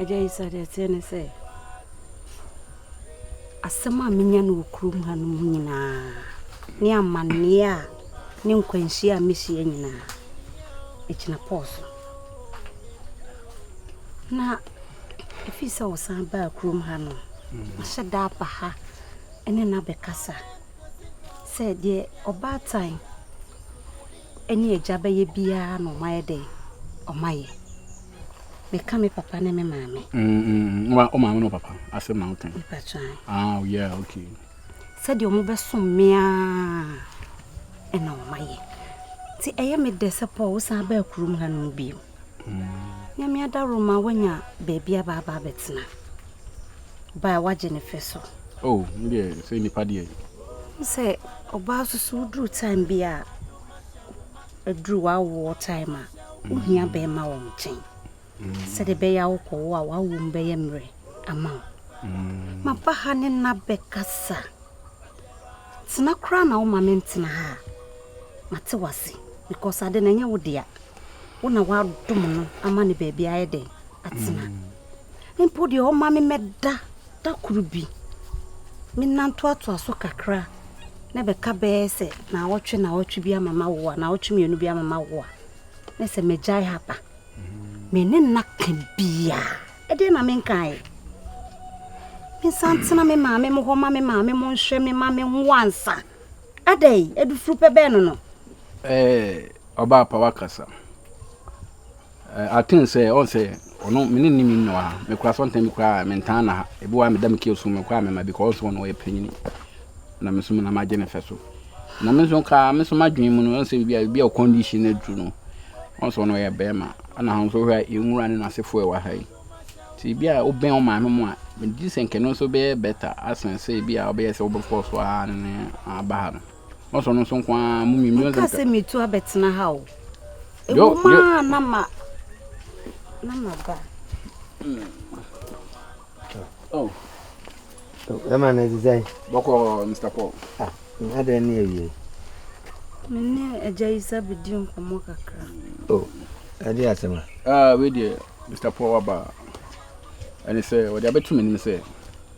Agya yi sɛ deɛ ɛteɛ ne sɛ, asɛm a menya no wɔ kurom ha no mu nyinaa ne amanneɛ a ne nkwanhyia a mehyia nyinaa, ɛgyina Paul so. Na ɛfiri sɛ ɔsan baa kurom ha no, mahyɛ mm. da aba ha ne no abɛkasa sɛ deɛ ɔbaatan ne agya bɛyɛ biara na ɔmayɛ dɛn ɔmayɛ Meka me papa ne me maame. Mm, mm, mm. Wa, o maame ne o papa asɛm na woka. Nipa twan. Ah, oh, yeah, okay. Sɛdeɛ ɔmo bɛsom me a ɛna ɔma yɛ. Nti ɛyɛ me dɛ sɛ Paul wosan baa kurom ha nom bio. Mm. Nyame adaworo ma woanya baabi aba aba abɛtena. Baa wagye ne fɛ so. Oh, deɛ sɛ nipa deɛ. Sɛ ɔbaa soso woduru time bi a aduru w'awoɔ time a, wo hia bɛɛma wɔ nkyɛn. Sɛdeɛ ɛbɛyɛ a wokɔ wo a w'awoɔ mu bɛyɛ mmerɛ ama wo. Ma ba ha ne nna bɛkasa. Tena koraa na wo ma me ntena ha a, ma te w'ase. Because ade no ɛnyɛ wo dea. Wo na w'adom no ama no baabi ayɛ dɛn atena. Mpo deɛ ɔma me mɛda Da koro bi, me nna ntoatoa so kakra na ɛbɛka bɛyɛ sɛ naawɔtwe naawɔtwe bi ama mawo a, naawɔtwe mmienu bi ama mawo a, na sɛ magyae ha ba. Me ne nna ka biara. Ɛdeɛ na menkaeɛ. Mensan tena me maame mo hɔ ma me maame mo nhwɛ me ma me nwo ansa. Adɛn? Adufuru pɛ bɛn no no? Ɛɛ, ɔbaapa wakasa. Eh, I think sɛ ɔn sɛ ɔno me ne ne mi nna ha. Me kora sɛ ɔntɛn me kora me ntaa na ha. Ebi wa me da me kio so me kora me ma bi kɔ ɔn sɛ ɔno ɔyɛ panyini. Na me so me na ma gye ne fɛ so. Na me so ka me so ma dwen mu no ɔn sɛ bibi a bibi a condition na duru no. Ɔn sɛ ɔno ɔyɛ bɛrima. Ana ha nso hwɛ yɛn nwura ne n'asefo ɛwɔ ha yi. Ti bi a ɔbɛn ɔn maame mu a me di sɛ nkɛno nso bɛyɛ better asen sɛ bi a ɔbɛyɛ sɛ ɔbɛfɔ so a ne ne aba ha no. Menkaa sɛ meretu abɛtena ha o. Ɛwom ara na ma na maba. Ɛma no ɛdze sɛn? Bɔkɔɔ Mr. Paul. Ah, adɛn ne awie? Me ne agya yi sɛ bɛdi nkɔmmɔ kakra. O, ɛde asɛm a? Ah, wei deɛ Mr. Paul waba. Ɛne sɛ wɔde abɛto m'anim sɛ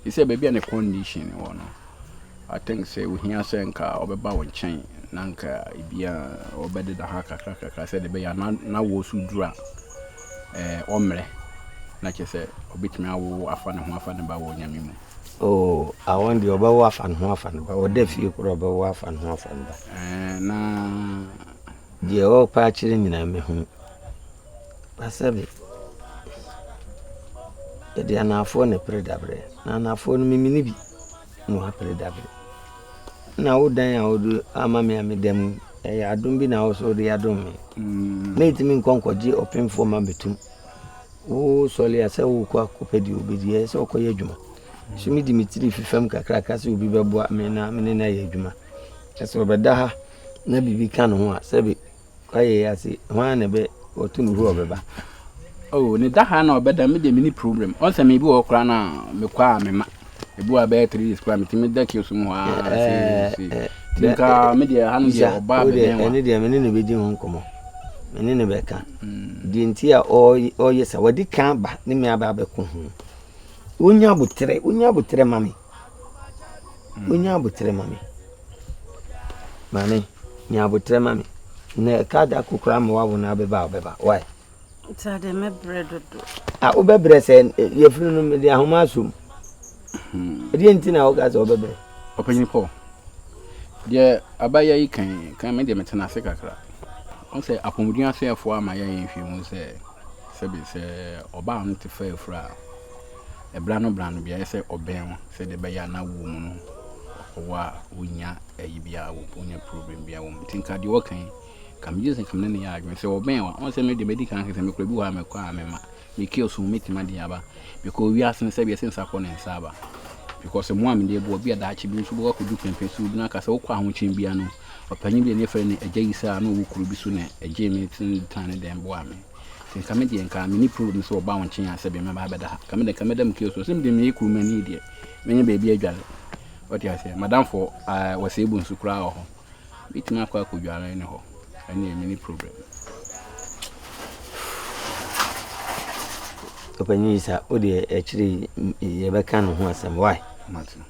Te sɛ baabi a ne condition wɔ no, I think sɛ ohia sɛ nka ɔbɛba wo nkyɛn na nka ebi a ɔbɛdeda ha kakra kakra sɛdeɛ ɛbɛyɛ a na na wo so duru a ɛɛ ɔmmerɛ na kyerɛ sɛ ɔbɛtumi awo afa ne ho afa ne ba wɔ onyame mu. Oo, awon deɛ ɔbɛwo afa ne ho afa ne ba, ɔda fie koraa ɔbɛwo afa ne ho afa ne ba. Ɛɛ na. Deɛ ɔrepɛ akyerɛ nyinaa mɛhunu. Na sɛbe yɛde anaafoɔ na ɛpere daberɛ, na anaafoɔ no mimi no bi na wɔapere daberɛ. Na wo dan a wode ama me a meda mu ɛyɛ adom bi na wo so wode adom me. Mm. Na ɛtumi nkɔ nkɔgye ɔpemfoɔ ma bɛtum. Wo sɔre a sɛ wokɔ akɔpɛ deɛ wobɛdi ɛyɛ sɛ wokɔyɛ adwuma. So medi me tiri fi fam kakraka sɛ obi bɛboa me na mene no ayɛ adwuma. Ɛsɛ ɔbɛda ha na biribi ka ne ho a sɛbe Wayɛ yi ase hwan na bɛ wɔto no hɔ ɔbɛba. Oh ne da ha na ɔbɛda me deɛ me ni problem ɔn sɛ me bi wɔ koraa na me kɔ a me ma ebi wɔ abɛyɛ three days koraa me ti me da kiosk mu hɔ aa eh, se eh, se ti eh, nka me deɛ ha no deɛ ɔba abɛdɛn wa ɛne deɛ me ne no bɛdi ho nkɔmɔ me ne no bɛka hmm. deɛ nti a ɔyɛ sa wɔde kan ba ne me aba abɛko ho wonya aboterɛ wonya aboterɛ ma me Monya aboterɛ ma me. Maame, nya aboterɛ ma me. Na ɛka da ko koraa ma wawo no abɛba a ɔbɛba. Why? Nti ade mɛbrɛ dodo. A wobɛbrɛ sɛ eh, yɛfiri no mede ahoma asom. Hmm. Ɛdeɛ nti na woka sɛ wobɛbrɛ. Ɔpanyin Paul, deɛ abayɛ yi kan kan me deɛ metena ase kakra. Ɔn sɛ apɔmuden asɛefoɔ ama yɛyɛ nhwɛmu sɛ sɛbe sɛ ɔbaa no te fa afura a Bra no bra no beaeɛ sɛ ɔbɛn wo sɛdeɛ ɛbɛyɛ a na wo mu no ɔwɔ a wonya ayi biara wɔ mu wonya problem biara wɔ mu nti nka deɛ ɔka yi ka megye sɛ kam ne ne yɛ adwene sɛ ɔbɛn wa ɔn sɛ me deɛ mɛdi kan sɛ mekura bi wɔ a mɛkɔ a mɛma me kill so mɛtima de aba because wiase no sɛ wiase nsa kɔ ne nsa aba because mu a mede boɔ bi a daakye bi nso bɛkɔ akɔdu pɛmpɛ so bi no aka sɛ wokɔ ahokyen bia no ɔpanyin bi ne frɛ ne agya yi saa na ɔwɔ kuro bi so na ɛgye me tene tan ne dɛn boa me Nka me deɛ nka meni problem sɛ wɔba wo nkyen a sɛbe mɛba abɛda ha. Nka me deɛ nka mɛda mu kee so. Ɔsɛ me deɛ meyɛ kurumani deɛ mɛnya baabi adware. Ɔte aseɛ. Madamfo uh, wɔsɛ ebu nso koraa wɔ hɔ. Mɛtumi akɔ akɔdware ne hɔ. Ɛneɛ meni problem. Ɔpanyin yi sa, wo deɛ akyire yi yɛbɛka ne ho asɛm. Why? Mate.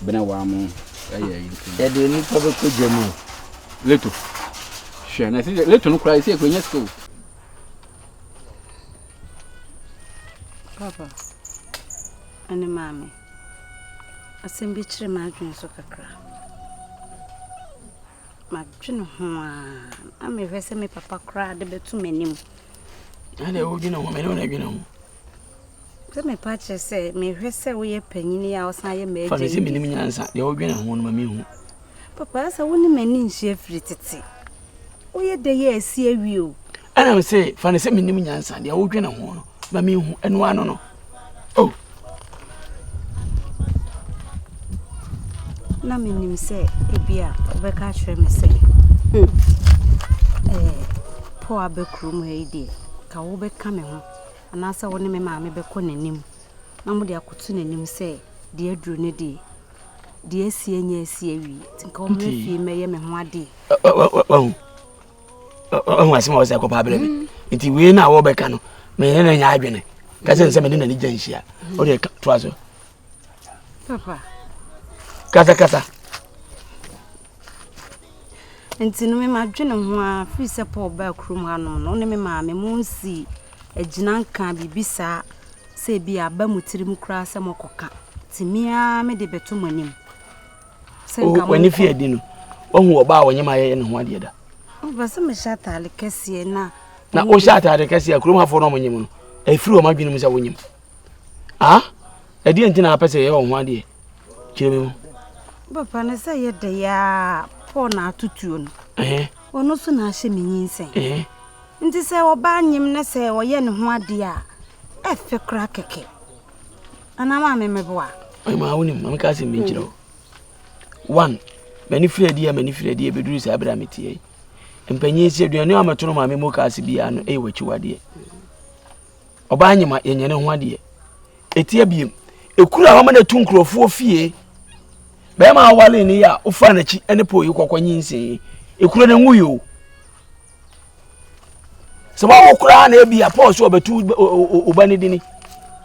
Bena waa mo ɛyɛ yi nti. Yɛde nnipa bɛkɔ gya mu. Leto. Hwɛ na ɛsɛ leto no koraa ɛsɛ ɛkɔ nya sika o. Papa, ɛne maame, asɛm bi kyerɛ m'adwene so kakra. Madwene ho a, na mehwɛ sɛ me papa koraa de bɛto m'anim. Ɛna ɛwɔ dwene ho, mene wo na dwene ho. Sɛ me pa kyerɛ sɛ mehwɛ sɛ woyɛ panyini a ɔsan yɛ m'agya yi. Fa me sɛ menim nyansa, deɛ wodwene ho no ma mehu. Papa sɛ wo ne m'ani nhyia firi tete. Woyɛ dɛ yɛ asi awie o. Ɛna me se fa ne sɛ menim nyansa, deɛ wodwene ho no ma mehu ɛno ano no. Oh. Na menim sɛ ebi a wobɛka akyerɛ me sɛ hmm, eh, po abɛkuro mu ha yi deɛ ka wobɛka me ho. anaasɛ wo ne me maame bɛkɔ n'anim na mode akɔto n'anim sɛ, Deɛ aduru no deɛ, deɛ asie nyɛ asi awie, nti nka wɔmmra fie mmɛyɛ me ho adeɛ. Wahu asɛm a wɔsɛ kɔpa abrɛ me mm. nti wei no a wɔbɛka no mene no nya adwene ka sɛ nsɛ mene n'ani gya nhyia wode toa so Papa. Kasa kasa. Nti no mema dwene ho a firi sɛ Paul baa kurom ha no no ne me maame mo nsi agyina nka biribi saa sɛ bi aba mo tiri mu koraa sɛ mɔkɔka nti mea mede bɛto mo anim sɛ nka mo w'ani fi adi no wahu ɔba a ɔnyɛ ma yɛyɛ ne ho adeɛ da ɔba sɛ mehyɛ ataade kɛseɛ na na wohyɛ ataade kɛseɛ a kurom hafoɔ no ɔmonyem no ɛfiri wɔn adwene mu sɛ wonyem Ah? Ɛdeɛ nti na apɛ sɛ yɛyɛ wɔn ho adeɛ? Kyerɛ me mu. Papa no sɛ yɛ dɛ yaa Paul na atutuo no. Ɔno so na ahyɛ me nyinsɛn. Nti sɛ ɔbaa nyem ne sɛ ɔyɛ ne ho adeɛ a ɛfɛ koraa kɛkɛ. Anaa maa me meboa. Maa wonim ma meka asɛm bi nkyerɛ wo. One, m'ani firi adeɛ m'ani firi adeɛ bɛduru saa berɛ a meteɛ yi. Mpanyin si aduane a mɛtono maa me mu kaase biara no ɛyɛ w'akyiwadeɛ. Ɔbaa nyima yɛnyɛ ne ho adeɛ. Ɛtia biem. Ɛkura hɔ ma no atu nkurɔfoɔ fie. Bɛrima awale ne yɛ a wofaa n'akyi ne pɔ yi kɔkɔ nyinsen yi. Ɛkura no nwuyi o. Sɛ wawo koraa na ebi a pɔɔ so ɔbɛtu ɔba ne dini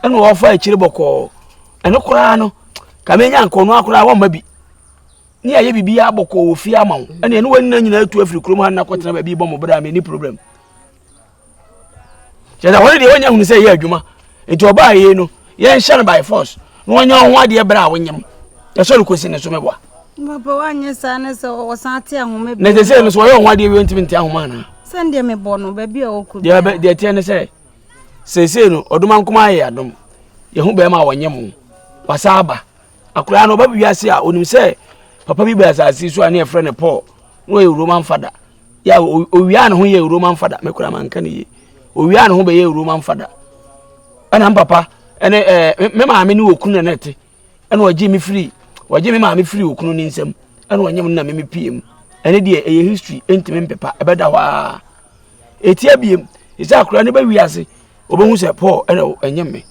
ɛna ɔfa akyire bɔkɔɔ ɛno koraa no kame nya nkɔno akoraa wɔn ma bi ne ayɛ bibi abɔkɔɔ wɔ fie ama wo ɛna ɛne wɔn nyinaa nyinaa tu afiri kurom ha na kɔtena baabi bɔ mo bra me ni problem. kyɛ sɛ wɔn deɛ wɔnyɛ hunu sɛ ɛyɛ adwuma nti ɔbaa yei no yɛnhyɛ no by force na wɔnyɛ ho adeɛ berɛ a wonyam ɛsɛ no kɔsi ne so mɛboa na ɛsɛ sɛ no sɛ wɔyɛ ho adeɛ wɛntimi nti ahoma anaa deɛ ɛteɛ ne sɛ seesei no ɔdoma nkoma ayɛ adom yɛho bɛrima a wɔnyɛ mo wasa aba akoraa no ɔba bi wiase a ɔnim sɛ papa bi bɛ asase so a ne yɛfrɛ no paul na ɔyɛ roman fada ya owia ne ho yɛ roman fada me kura manka ne yie owia ne ho bɛyɛ roman fada ɛna mpapa ɛne ɛɛ me maame ne okunu na nɛte ɛna ɔgye me firi ɔgye me maame firi okunu ne nsam ɛna ɔnyɛ mu na me me pie mu ɛne deɛ ɛyɛ history ɛntumi mpepa ɛbɛda hɔ aa etia biem ɛsɛ akora ne bɛwi ase ɔbɛhu sɛ paul ɛna ɛnyɛ me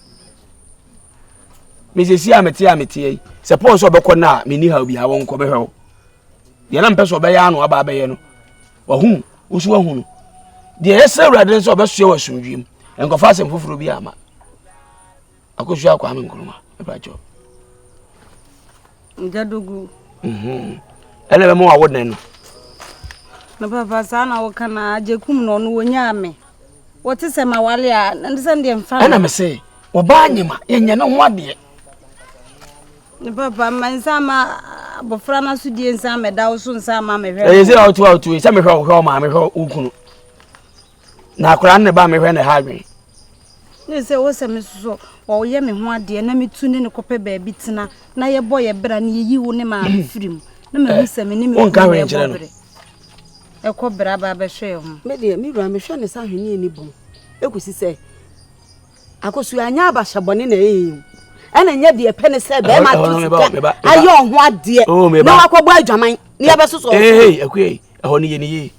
mesɛsi a mete a meteɛ yi sɛ paul sɛ ɔbɛkɔ no a menni ha obi ha wɔnkɔ bɛhwɛ wo deɛ na mpɛ sɛ ɔbɛyɛ ano aba abɛyɛ no wahu woso wahu no deɛ yɛsrɛ awurade no sɛ ɔbɛsoɛ wɔ asomdwie mu nkɔfa asɛm foforɔ bi ama akɔsu akwaa me nkroma ɛbrakyɛw nyadogu mhm. ɛna bɛma wawo dɛn no na papa saa na woka na agye kum no ɔno wɔnyaa me wɔte sɛ ma wale a ɛne sɛ deɛ mfa ɛna me se ɔbaa nyema yɛnyɛ ne ho adeɛ Ne papa mma nsa mma abɔfra no asodie nsa mmɛda wo so nsa mma mehwɛ ɛyɛ sɛ ɔto a ɔto sɛ mehwɛ wo hwɛ ɔma mehwɛ wo kunu na akora ne ba mehwɛ ne ha adwen ne sɛ wo sɛ me soso ɔyɛ me ho adeɛ na metu ne ne kɔpɛ baabi tena na yɛbɔ yɛ bra ne yɛyi wo ne maame mm. firi mu na mahu eh, sɛ me ne mekɔbere no ɛkɔ bra ba bɛhwɛ yɛ ho medeɛ me wura mehwɛ ne sɛ ahweneɛ ne bom ɛkɔsi sɛ akosu anyɛ abahyɛ bɔne na ɛyɛ yɛn o ɛna nyɛ deɛ pɛ ne sɛ bɛrima to sika ayɛ ɔho adeɛ oh, na wakɔbɔ adwaman ne yɛbɛsosɔ ee akue ɛhɔ no yɛ ne yie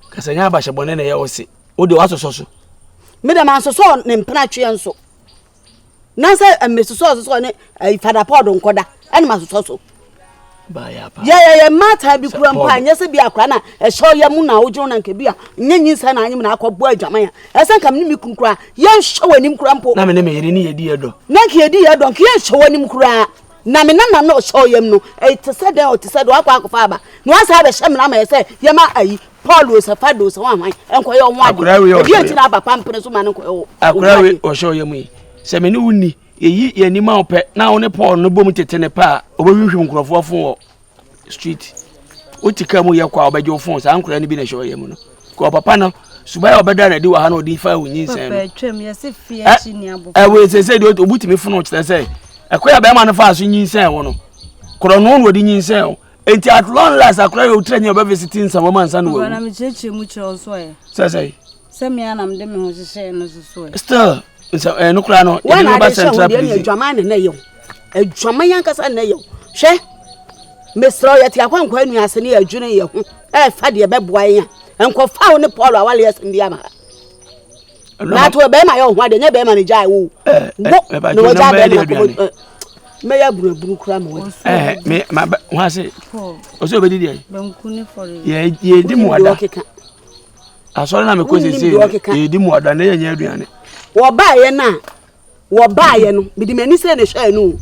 kasa nyɛ abahyɛ bɔne na ɛyɛ wo se wode woasosɔ so me dɛm asosɔ ne mpena tweɛ nso na sɛ mmesosɔ sosɔ ne eh, fada pɔɔdo nkɔda ɛne masosɔ so yɛyɛ yɛ mmata bi kura mpo a nyɛ sɛ bi akora na ɛhyɛ yɛ mu na wodwo na nka bi a nyɛ nyinsɛ na anyem na akɔbɔ adwaman a ɛsɛ nka mene me kunu koraa yɛnhwɛ w'anim kora mpo na mene meyere ne yɛdi yɛdɔ na nka yɛdi yɛdɔ nka yɛnhwɛ w'anim koraa na me nana na ɔhyɛ ɔyam no ɛte sɛ dɛn ɔte sɛ dɛn wakɔ akɔfa aba na wasa abɛhyɛ mmena ma yɛ sɛ yɛma ayi paul osɛ fa de osɛ wahwan nkɔyɛ ɔho ade ebi akyiri aba pampene so ma no nkɔyɛ ɔho ade akora we ɔhyɛ ɔyam yi sɛ mene wo ni Yɛyi yɛn anim a wopɛ na wo ne Paul no bom tete ne pɛ a ɔbɛhwimhwim nkurɔfoɔ fo wɔ street. Wote ka mu yɛ kɔ a ɔbɛgye wo fon saa nkoraa no bi na ɛhyɛ ɔyɛ mu no. Kɔ papa no suban a ɔbɛda no adi wɔ ha na ɔde fa wo nyinsɛn no. Ɛwɔ ɛsɛsɛ deɛ obu tumi fono kyerɛ sɛ ɛkɔ yɛ bɛrima no fa so nyinsɛn wo no. Korɔ no na ɔde nyinsɛn wo. Enti at long last akora yɛ ɔtira nyi ɔbɛvisiti nsɛm wɔma nsa no wawu. Sɛsɛ. sɛ me ara na mede me ho hyehyɛɛ no so so ɛ. still nsa ɛɛ no koraa no yɛde no ba central prison. adwaman na na yɛ o adwaman yɛn ankasa na yɛ o hwɛ mesrɛ yɛ te akwankwa anu ase ne yɛdwene yɛ ho ɛɛfa deɛ bɛboa yɛn a nkɔfa wo ne paul awale asɛm bi ama na to bɛrima yɛ ɔho adeɛ nyɛ bɛrima ne gyae wo eh, eh, wo eh, na wɔgya bɛrima kɔbɔ mɛyɛ abunabunu kura ma wɔde. ɛɛ me ma bɛ wɔn ase ɔsɛ obedi deɛ. bɛnku ne fɔri. yɛ yɛ di mu ada. asɔre na mekɔ sese yɛdi mu ada na yɛnyɛ aduane wɔbaeɛ no a wɔbaeɛ no mede m'ani srɛ ne hwɛɛ no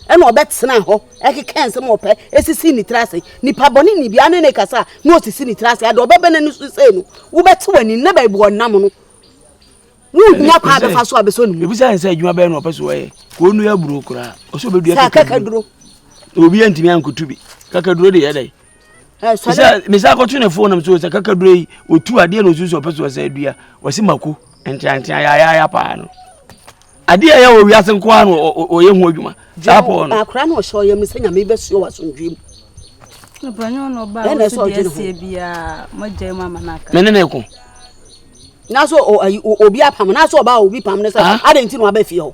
ɛna ɔbɛtena hɔ ɛkeka nsɛm a ɔpɛ ɛsisi ne tiri ase nipa bɔne ni bia ne ne kasa a na ɔsisi ne tiri ase ade ɔbɛbɛ no so sei no wobɛte w'anim na baabi ɔnam no wohia kwa bɛfa so a bɛsɔ ne mu ɛbisa ne sɛ adwuma bɛyɛ no ɔpɛ so wɔyɛ ka ɔnua aburo koraa ɔsɛ ɔbɛdua kakaduro obi antumi ankoto bi kakaduro de yɛ dɛn sɛ mesa akɔto ne fon nam so sɛ kakaduro yi ɔtu adeɛ na ɔsusu ɔpɛ so ɔsɛ adua ɔse mako nteantea yaayaaya paa no adeɛ ɛyɛ wɔ wiase nko ara na ɔyɛ ho adwuma saa pɔɔ no akora na ɔhyɛ ɔyɛ mu sɛ nyame bɛsuo wɔ asomdwe mu ɛna ɛsɛ ɔgye ne ho mene ne ko na so obi apam na so ɔba obi pam ne sɛ adɛn nti na wabɛ fie hɔ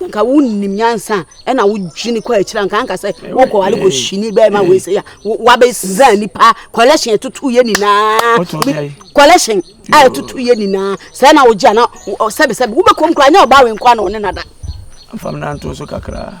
nka wonnim nyansa a ɛna wodwene kɔ akyiri anka anka sɛ wokɔwale kɔhyini bɛma wei sɛ a wabɛsa nipa collection ɛtotoyɛ nyinaa collection a ɛtotoyɛ nyinaa sɛ na wogye ana sɛbesɛbe wobɛkɔm koraa nyɛ ɔba wenkɔ ana ɔne nada mfam nanto so kakraa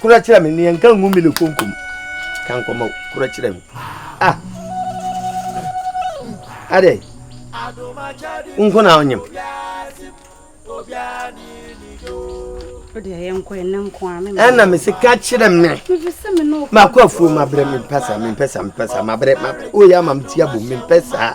Kura kyerɛ me neɛ nka ngu mele konko mu ka nkɔmɔ kura kyerɛ me ah adɛ nko na ɔnyem ɛna me se ka kyerɛ me makɔ afuo mabrɛ mempɛ saa mempɛ saa mempɛ saa mabrɛ mabrɛ woyɛ ama me ti abom mempɛ saa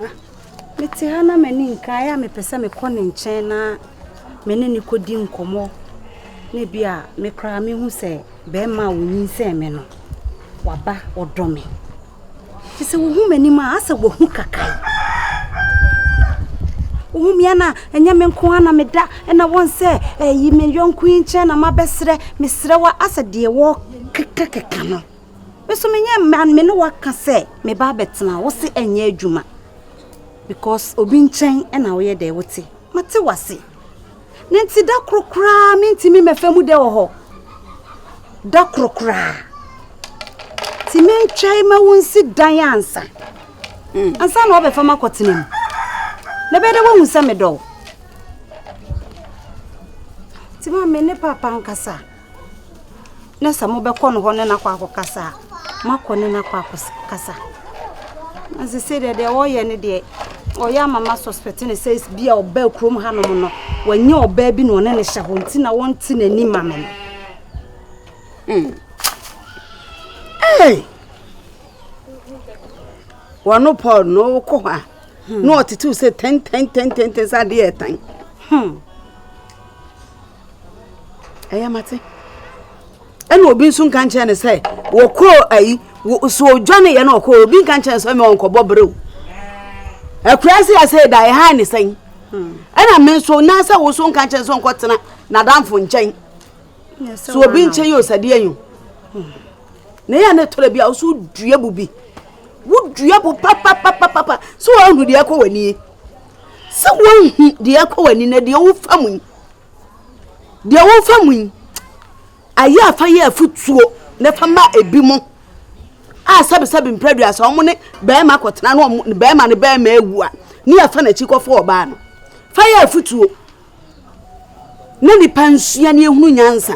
Ah, mete ha na m'ani nka ayɛ a mepɛ sɛ mekɔ ne nkyɛn na me ne no kɔdi nkɔmmɔ na bi a me koraa mehu sɛ bɛrima a wɔnyinsɛn me no waba ɔdɔ me te sɛ wohu m'anim a asɛ wahu kakae wohu mea no a ɛnyɛ me nko a na meda ɛna wɔn sɛ ɛyi me yɔnko yi nkyɛn na mabɛserɛ meserɛ wa asɛ deɛ wɔkekakeka no Me so menyɛ mma me ne waka sɛ me ba abɛtena wo se ɛnyɛ adwuma because obi nkyɛn na woyɛ dɛ wote mate wase ne nti da koro koraa mentumi mɛfa mu dɛ wɔ hɔ da koro koraa ti mentwɛn ma wo nsi dan ansa hmm. ansa na ɔbɛfa ma kɔtena mu na bɛyɛ dɛ woahu sɛ medɔ wo ti ma me ne papa nkasa na sɛ mobɛkɔ no hɔ ne no akɔ akɔkasa a, moakɔ ne no akɔ akɔkasa na sɛ sei deɛ deɛ ɔyɛ no deɛ ɔyɛ ama ma suspect ne sɛ bi a ɔbaa kurom hanom no wanyɛ ɔbaa bi na ɔne ne hyɛ hɔ nti na wɔnte n'ani ma me no hmm. Hey! wɔno paul na ɔkɔ hɔ a hmm. na ɔtetew sɛ tɛntɛntɛntɛntɛn sɛ adeɛ ɛtan hmm. Ɛyɛ mate. Ɛna obi nso nka nkyɛn ne sɛ wɔkɔ ayi so odwane yɛ na ɔkɔ obi nka nkyɛn sɛ mɛwɔ nkɔbɔ berew. Akura se asɛ da ɛhan ne sɛn. Hmm. Ɛna me nso na sɛ wo so nka nkyɛn sɛ ɔnkɔ tena n'adamfo nkyɛn. So obi nkyɛn yɛ osadeɛ yo. Hmm. Na yɛ ne tɔrɔ bi a woso dua bu bi. Wo dua bu papapapapa so wɔn hu deɛ ɛkɔ wɔ nie. sɛ woahu deɛ ɛkɔ w'ani na deɛ wofa mu yi deɛ wofa mu yi ayɛ afa yɛ afutuo na fa ma ebi mo a sɛbesɛbe mprɛdua sɛ wɔn ne bɛrima akɔtena na wɔn bɛrima ne bɛrima awu a ne yɛfa n'akyi kɔfo ɔbaa no fa yɛ afutuo na nnipa nsua ne ehunu nyansa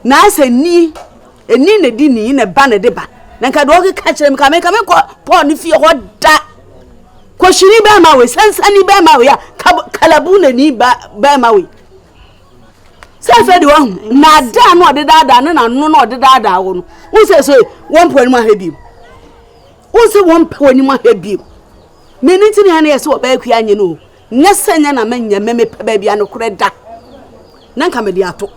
na asɛ ni ɛni na ɛdi ni na ɛba na ɛde ba na nka deɛ ɔkeka kyerɛ me ka meka mekɔ paul ne fie hɔ da kɔhyini bɛrima wei sansani bɛrima wei a kalabu na ni bɛrima wei sɛ afei deɛ wahu naadaa no ɔde daadaa ne nano na ɔde daadaa wɔ no wo sɛ sɛ wɔmpɛ anim ahwɛ bio wo sɛ wɔmpɛ w'anim ahwɛ bio mene nti ne ɛne yɛ sɛ wɔbɛyɛ kua nyɛ no o Nyɛ sɛ nyɛ na menyɛ me mepɛ baabi a nokorɛ da, na nka mede ato.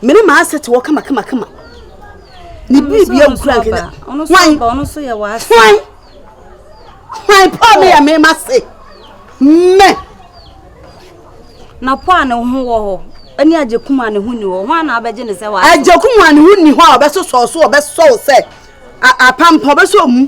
Me ne m'asete wɔ kama kama kama. Ne biribia nkura nkenya. Hwan? Hwan? Hwan po a meyɛ me ma se? Me! Na po a ne ho wɔ hɔ ɛne agyakum a ne ho ni hɔ hwan na abɛgye ne sɛ wɔ ase? Agyakum a ne ho ni hɔ a ɔbɛsosɔ so ɔbɛsɔ wo sɛ apampɔ ɔbɛsɔ mu.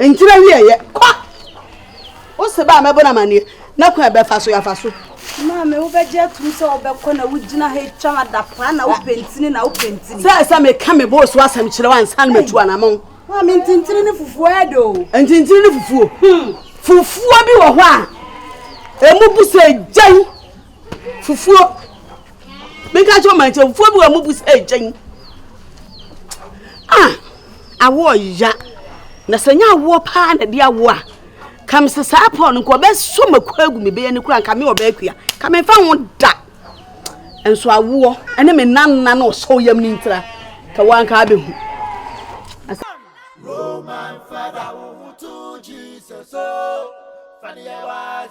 Ntina wiɛ yɛ kɔ. Wo se ba a mɛbɔ no amanneɛ na kwan a ɛbɛfa so yɛafa so. Maame wobɛgye atum sɛ wobɛkɔ na wogyina ha atwa ho adapaa na wopɛ ntini na wopɛ ntini. Sɛ sɛ meka me bɔɔ so asɛm kyerɛ wo ansa na matu anamɔn. Maame ntintini ne fufuo ɛdɛ o. Ntintini ne fufuo. Hmm. Fufuo bi wɔ hɔ a ɛmu bu sɛ gyan fufuo meka kyɛ ɔma nkyɛ fufuo bi wɔ mu bu sɛ ɛgyɛn a awoɔ ya na sɛ nyɛ awoɔ paa na de awoɔ a ka me sɛ saa pɔn no nka ɔbɛsɔ mako agu me bɛyɛ ne kura nka me ɔbɛɛ kua ka me mfa ho da nso awoɔ ɛne me nanna na ɔsɔ yam ne ntira ka wanka abɛhu Roman father, who to Jesus, oh, Fania was